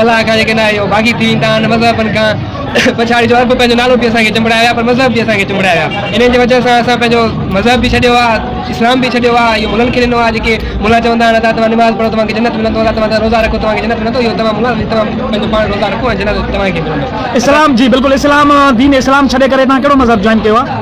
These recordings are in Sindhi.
الاهه کان جيڪي ناهي اهي باغي ٿي ويندا آهن، مذهبن کان پڇاڙي جو عرب پنهنجو نالو به اسان کي چنبڙايو ويا پر مذهب به اسان کي چنبڙايو ويا انهن جي وجهه سان اسان پنهنجو مذهب به ڇڏيو آهي اسلام به ڇڏيو آهي اهو ملن کي ڏنو آهي جيڪي ملا چوندا آهن ادا توهان نماز پڙهو توهان کي جنت ملندو ادا توهان روزا رکو توهان کي جنت ملندو اهو توهان ملا توهان پنهنجو پاڻ روزا رکو ۽ جنت توهان کي ملندو اسلام جي بلڪل اسلام دين اسلام ڇڏي ڪري توهان ڪهڙو مذهب جوائن ڪيو آهي.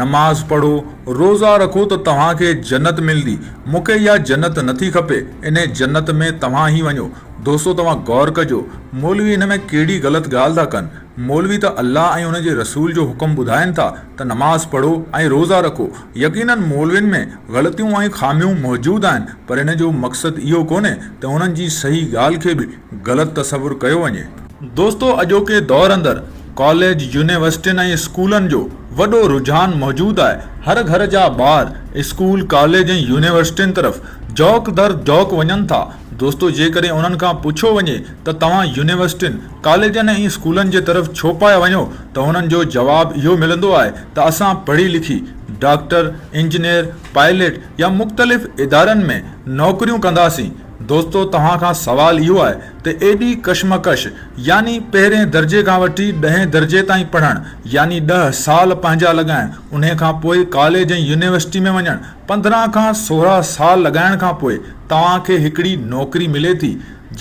نماز پڙهو، روزا رکو ته توهان کي جنت ملندي، مون کي اها جنت نٿي کپي، انهي جنت ۾ توهان ئي وڃو. دوستو توهان غور ڪجو، مولوي ان ۾ ڪهڙي غلط ڳالهه ٿا ڪن، مولوي ته الله ۽ ان جي رسول جو حڪم ٻڌائين ٿا ته نماز پڙهو ۽ روزا رکو، يقينن مولوين ۾ غلطيون ۽ خاميون موجود آهن پر ان جو مقصد اهو ڪونهي ته انهن جي صحيح ڳالهه کي به غلط تصور ڪيو وڃي. دوستو اڄوڪي دور اندر ڪاليج، يونيورسٽين ۽ اسڪولن جو وڏو رجحان موجود آهي، هر گهر جا ٻار اسڪول، ڪاليج ۽ يونيورسٽين طرف جوق در جوق وڃن ٿا، دوستو جيڪڏهن انهن کان پڇيو وڃي ته توهان يونيورسٽين، ڪاليجن ۽ اسڪولن جي طرف ڇو پيا وڃو ته هنن جو جواب اهو ملندو آهي ته اسان پڙهي لکي ڊاڪٽر، انجنيئر، پائليٽ يا مختلف ادارن ۾ نوڪريون ڪنداسين، دوستو توهان کان سوال اهو آهي ته ايڏي ڪشمڪش يعني پهرين درجي کان وٺي ڏهين درجي تائين پڙهڻ يعني ڏهه سال پنهنجا لڳائڻ انهي کان پوء ڪاليج ۽ يونيورسٽي ۾ وڃڻ پندرهن کان سورهن سال لڳائڻ کان پوء توهان کي هڪڙي نوڪري ملي ٿي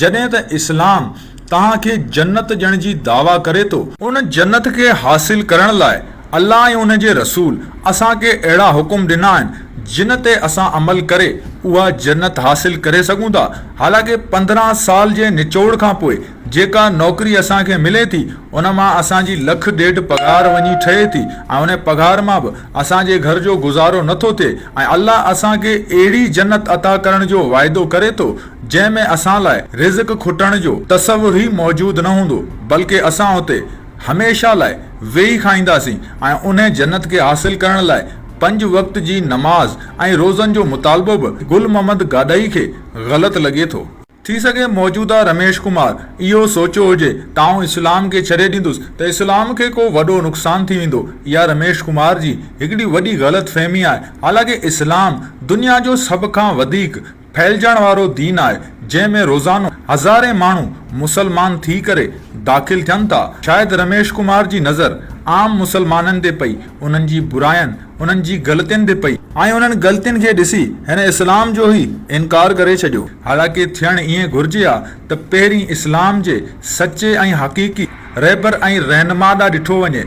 جڏهن ته اسلام توهان کي جنت ڏيڻ جي دعويٰ ڪري ٿو. ان جنت کي حاصل ڪرڻ لاء الله ۽ ان جي رسول اسان کي اهڙا حڪم ڏنا آهن جن تي اسان عمل ڪري اها جنت حاصل ڪري سگهون ٿا حالانڪ پندرهن سال جي نچوڙ کان پوء جيڪا نوڪري اسان کي ملي ٿي ان مان اسان جي لک ڏيڍ پگهار وڃي ٺهي ٿي ۽ ان پگهار مان به اسان جي گهر جو گذارو نٿو ٿئي ۽ الله اسان کي اهڙي جنت عطا ڪرڻ جو وعدو ڪري ٿو جنهن ۾ اسان لاء رزق کٽڻ جو تصور ئي موجود نه هوندو بلڪه اسان اتي هميشه لاء ويهي کائينداسين ۽ انهي جنت کي حاصل ڪرڻ لاء پنج وقت جي نماز ۽ روزن جو مطالبو به گل محمد گاڏهي کي غلط لڳي ٿو. ٿي سگهي موجوده رميش ڪمار اهو سوچيو هجي ته آئون اسلام کي ڇڏي ڏيندس ته اسلام کي ڪو وڏو نقصان ٿي ويندو. اها رميش ڪمار جي هڪڙي وڏي غلط فهمي آهي حالانڪه اسلام دنيا جو سڀ کان وڌيڪ ڦهلجڻ وارو دين آهي جنهن ۾ روزانو هزارين ماڻهو مسلمان ٿي ڪري داخل ٿين ٿا شايد رميش ڪمار جي نظر عام مسلمانن تي پئي انهن جي براين انهن جي غلطين تي پئي ۽ انهن غلطين کي ڏسي هن اسلام جو ئي انڪار ڪري ڇڏيو حالانڪه ٿيڻ ائين گهرجي ها ته پهرين اسلام جي سچي ۽ حقيقي رهبر ۽ رهنما ڏانهن ڏٺو وڃي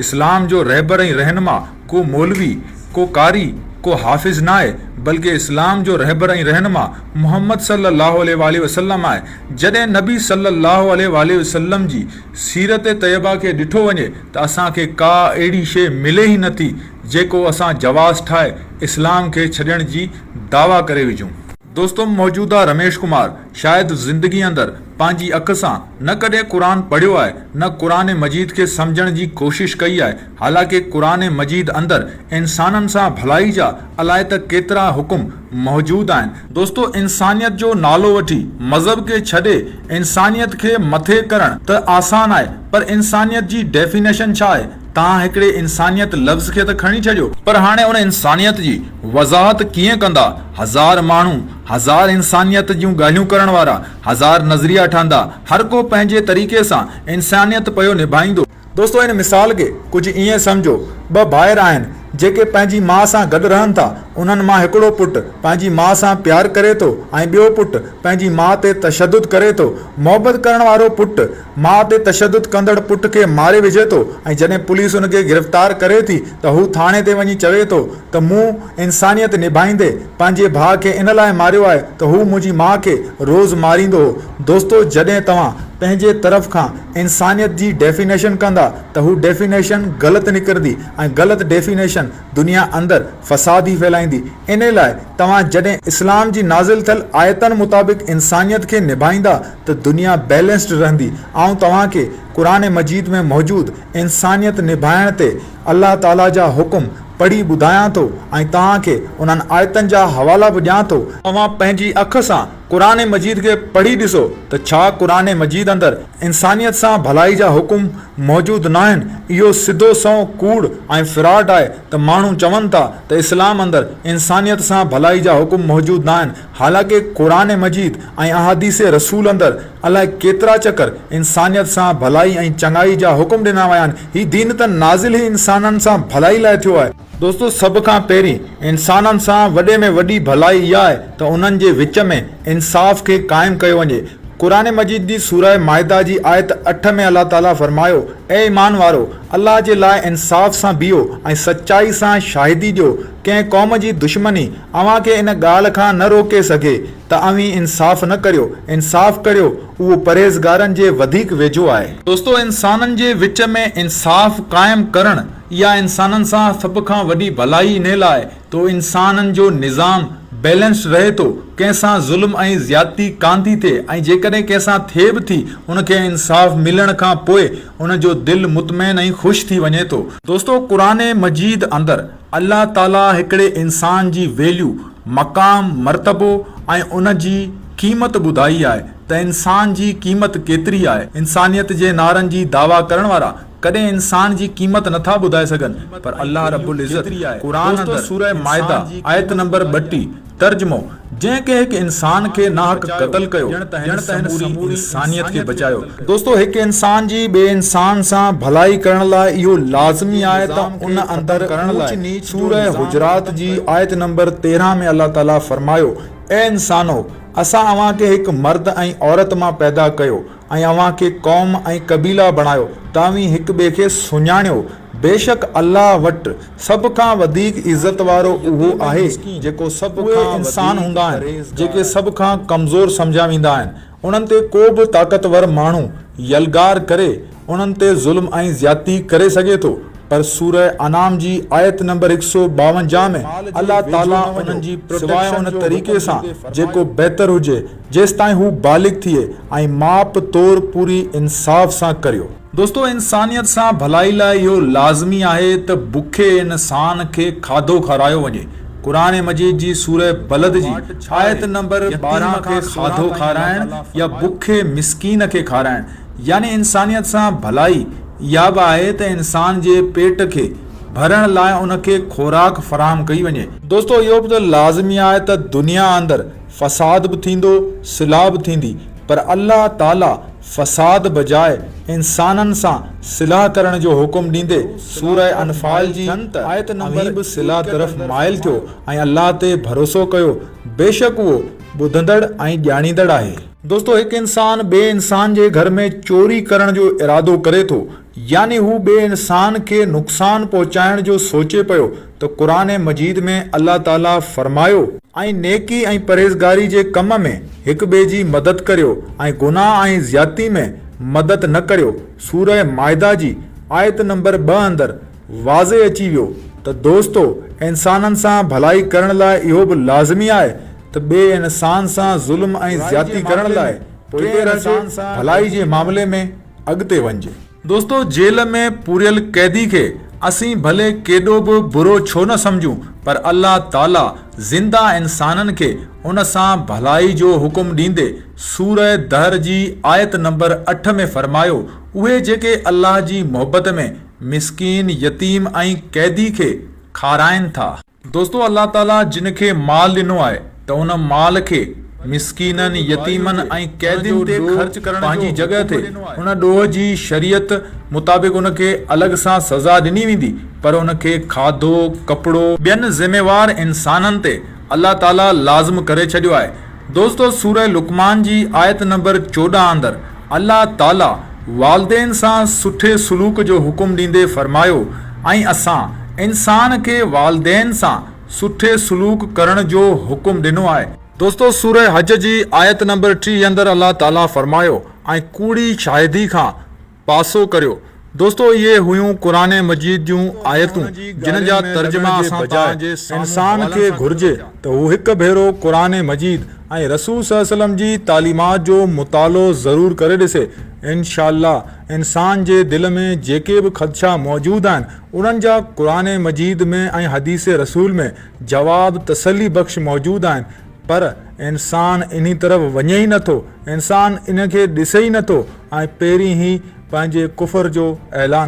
اسلام جو رهبر ۽ رهنما ڪو مولوي، ڪو قاري، ڪو حافظ ناهي، بلڪ اسلام جو رهبر ۽ رهنما محمد صلّي اللّٰه عليه واٰله وسلّم آهي. جڏهن نبي صلّي اللّٰه عليه واٰله وسلّم جي سيرت طيبه کي ڏٺو وڃي ته اسان کي ڪا اهڙي شيء ملي ئي نٿي جيڪو اسان جواز ٺاهي اسلام کي ڇڏڻ جي دعويٰ ڪري وجهون. دوستم موجوده رميش ڪمار شايد زندگي اندر پنهنجي اک سان نه ڪڏهن قرآن پڙهيو آهي نه قرآن مجيد کي سمجهڻ جي ڪوشش ڪئي آهي حالانڪه قرآن مجيد اندر انسانن سان ڀلائي جا الائي ته ڪيترا حڪم موجود آهن. دوستو انسانيت جو نالو وٺي مذهب کي ڇڏي انسانيت کي مٿي ڪرڻ ته آسان آهي پر انسانيت جي ڊيفينيشن ڇا آهي تهان هڪڙي انسانيت لفظ کي ته کڻي ڇڏيو پر هاڻي ان انسانيت جي وضاحت ڪيئن ڪندا هزار ماڻهو، هزار انسانيت جون ڳالهيون ڪرڻ وارا، هزار نظريا ٺهندا، هر ڪو پنهنجي طريقي سان انسانيت پيو نڀائيندو. دوستو ان مثال کي ڪجهه ائين سمجهو، ٻه ڀائر آهن جيڪي پنهنجي ماء سان گڏ رهن ٿا، انهن مان هڪڙو پٽ پنهنجي ماء سان پيار ڪري ٿو ۽ ٻيو پٽ پنهنجي ماء تي تشدد ڪري ٿو، محبت ڪرڻ وارو پٽ ماء تي تشدد ڪندڙ پٽ کي ماري وجهي ٿو ۽ جڏهن پوليس ان کي گرفتار ڪري ٿي ته هو ٿاڻي تي وڃي چوي ٿو ته مون انسانيت نڀائيندي پنهنجي ڀاء کي ان لاء ماريو آهي ته هو منهنجي ماء کي روز ماريندو هو دوستو جڏهن توهان پنهنجي طرف کان انسانيت جي ڊيفينيشن ڪندا ته هو ڊيفينيشن غلط نڪرندي ۽ غلط ڊيفينيشن دنيا اندر فساد ئي ڦهلائيندي انهي لاء توهان جڏهن اسلام جي نازل ٿيل آيتن مطابق انسانيت کي نڀائيندا ته دنيا بيلنسڊ رهندي. آئون توهان کي قرآن مجيد ۾ موجود انسانيت نڀائڻ تي الله تعالي جا حڪم پڙهي ٻڌايان ٿو ۽ توهان کي انهن آيتن جا حوالا به ڏيان ٿو، اوهان پنهنجي اک سان قرآن مجيد کي پڙهي ڏسو ته ڇا قرآن مجيد اندر انسانيت سان ڀلائي جا حڪم موجود ناهن، اهو سڌو سنئون ڪوڙ ۽ فراڊ آهي ته ماڻهو چون ٿا ته اسلام اندر انسانيت سان ڀلائي جا حڪم موجود ناهن، حالانڪه قرآن مجيد ۽ احاديث رسول اندر الاء ڪيترا چڪر انسانيت سان ڀلائي ۽ چڱائي جا حڪم ڏنا ويا آهن، هي دين ته نازل ئي انسانن سان ڀلائي لاء ٿيو آهي. دوستو سڀ کان پهرين انسانن سان وڏي ۾ وڏي ڀلائي اها آهي ته انهن جي وچ ۾ انصاف کي قائم ڪيو وڃي. قرآن مجيد جي سوره مائده جي آيت اٺ ۾ الله تعالي فرمايو، اي ايمان وارؤ! الله جي لاء انصاف سان بيهو ۽ سچائي سان شاهدي ڏيو، ڪنهن قوم جي دشمني، اوهان کي ان ڳالهه کان نه روڪي سگهي ته اوهين انصاف نه ڪريو. انصاف ڪريو، اهو پرهيزگارن جي وڌيڪ ويجهو آهي. دوستو! انسانن جي وچ ۾ انصاف قائم ڪرڻ، اها انسانن سان سڀ کان وڏي ڀلائي انهي لاء تو انسانن جو نظام بيلنسڊ رهي ٿو، ڪنهن سان ظلم ۽ زيادتي ڪانه ٿي ٿئي ۽ جيڪڏهن ڪنهن سان ٿئي به ٿي، ان کي انصاف ملڻ کان پوء ان جو دل مطمئن ۽ خوش ٿي وڃي ٿو. دوستو! قرآن مجيد اندر الله تعاليٰ هڪڙي انسان جي ويليو، مقام، مرتبو ۽ ان جي قيمت ٻڌائي آهي ته انسان جي قيمت ڪيتري آهي. انسانيت جي نعرن جي دعويٰ ڪرڻ وارا ڪڏهن انسان جي قيمت نٿا ٻڌائي سگهن پر الله رب العزت قرآن اندر سورة مائدة آيت نمبر ٻٽيهه ترجمو، جنهن ڪنهن هڪ انسان کي ناحق قتل ڪيو، ڄڻ ته هن سموري انسانيت کي بچايو. دوستو! هڪ انسان جي ٻئي انسان سان ڀلائي ڪرڻ لاء اهو لازمي آهي ته ان اندر اونچ نيچ جو نظام قائم ڪرڻ لاء. سوره حجرات جي آيت نمبر تيرهن ۾ الله تعاليٰ فرمايو، اي انسانؤ! اسان اوهان کي هڪ مرد ۽ عورت مان پيدا ڪيو. ۽ اوهان کي قوم ۽ قبيلا بڻايو ته اوهين هڪ ٻئي کي سڃاڻيو، بيشڪ الله وٽ سڀ کان وڌيڪ عزت وارو اهو آهي جيڪو سڀ کان وڌيڪ اهي انسان هوندا آهن جيڪي سڀ کان ڪمزور سمجهيا ويندا آهن انهن تي ڪو به طاقتور ماڻهو يلغار ڪري انهن تي ظلم ۽ زيادتي ڪري سگهي ٿو پر سوره انعام جي آيت نمبر هڪ سؤ ٻاونجاهه ۾ الله تعالي انهن جي پروٽيڪشن جو حڪم ڏيندي فرمايو. جيستائين هو بالغ ٿئي ۽ ماپ تور پوري انصاف سان ڪريو. دوستو انسانيت سان ڀلائي لاء اهو لازمي آهي ته بکي انسان کي کاڌو کارايو وڃي. قرآن مجيد جي سورة بلد جي آيت نمبر ٻارهن کان کاڌو کارائڻ يا بکي مسڪين کي کارائڻ يعني انسانيت سان ڀلائي اها به آهي ته انسان جي پيٽ کي ڀرڻ لاء ان کي خوراڪ فراهم ڪئي وڃي. دوستو اهو به ته لازمي آهي ته دنيا اندر فساد به ٿيندو، صلاح به ٿيندي، پر الله تعاليٰ فساد بجاء انسانن سان صلاح ڪرڻ جو حڪم ڏيندي سورة انفال جي آيت نمبر اوهين به صلاح طرف مائل ٿيو ۽ الله تي ڀروسو ڪيو، بيشڪ اهو ٻڌندڙ ۽ ڄاڻيندڙ آهي. دوستو هڪ انسان ٻئي انسان جي گهر ۾ چوري ڪرڻ جو ارادو ڪري ٿو يعني هو ٻئي انسان کي نقصان پهچائڻ جو سوچي پيو ته قرآن مجيد ۾ الله تعالي فرمايو. ۽ نيڪي ۽ پرهيزگاري جي ڪم ۾ هڪ ٻئي جي مدد ڪريو ۽ گناهه ۽ زيادتي ۾ مدد نه ڪريو سوره مائده جي آيت نمبر ٻه اندر واضح اچي ويو ته دوستو انسانن سان ڀلائي ڪرڻ لاء اهو به لازمي آهي ته ٻئي انسان سان ظلم ۽ زيادتي ڪرڻ لاء پوئتي رهجي ڀلائي جي معاملي ۾. اڳتي وڃجي. دوستو جيل ۾ پوريل قيدي کي اسين ڀلي ڪيڏو به برو ڇو نه سمجهون پر الله تعاليٰ زنده انسانن کي ان سان ڀلائي جو حڪم ڏيندي سوره دهر جي آيت نمبر اٺ ۾ فرمايو اهي جيڪي الله جي محبت ۾ مسڪين، يتيم ۽ قيدي کي کارائن ٿا. دوستو الله تعاليٰ جن کي مال ڏنو آهي ته ان مال کي مسڪينن، يتيمن ۽ قيدين تي خرچ ڪرڻ پنهنجي جڳهه تي ان ڏوهه جي شريعت مطابق ان کي الڳ سان سزا ڏني ويندي پر ان کي کاڌو، ڪپڙو. ٻين ذميوار انسانن تي الله تعاليٰ لازم ڪري ڇڏيو آهي. دوستو سورة لقمان جي آيت نمبر چوڏهن اندر الله تعالي والدين سان سٺي سلوڪ جو حڪم ڏيندي فرمايو ۽ اسان انسان کي والدين سان سٺي سلوڪ ڪرڻ جو حڪم ڏنو آهي. دوستو سورة حج جي آيت نمبر ٽيهه اندر الله تعالي فرمايو ۽ ڪوڙي شاهدي کان پاسو ڪريو. دوستو اهي هيون قرآن مجيد جون آيتون جن جا ترجما اسان بجاء انسان کي گهرجي ته هو هڪ ڀيرو قرآن مجيد ۽ رسول صلي وسلم جي تعليمات جو مطالعو ضرور ڪري ڏسي انشآء الله انسان جي دل ۾ جيڪي به خدشا موجود آهن انهن جا قرآن مجيد ۾ ۽ حديث رسول ۾ جواب تسلي بخش موجود آهن پر انسان انهي طرف وڃي ئي نٿو، انسان ان کي ڏسي ئي نٿو ۽ پهرين هي پنهنجي ڪفر جو اعلان.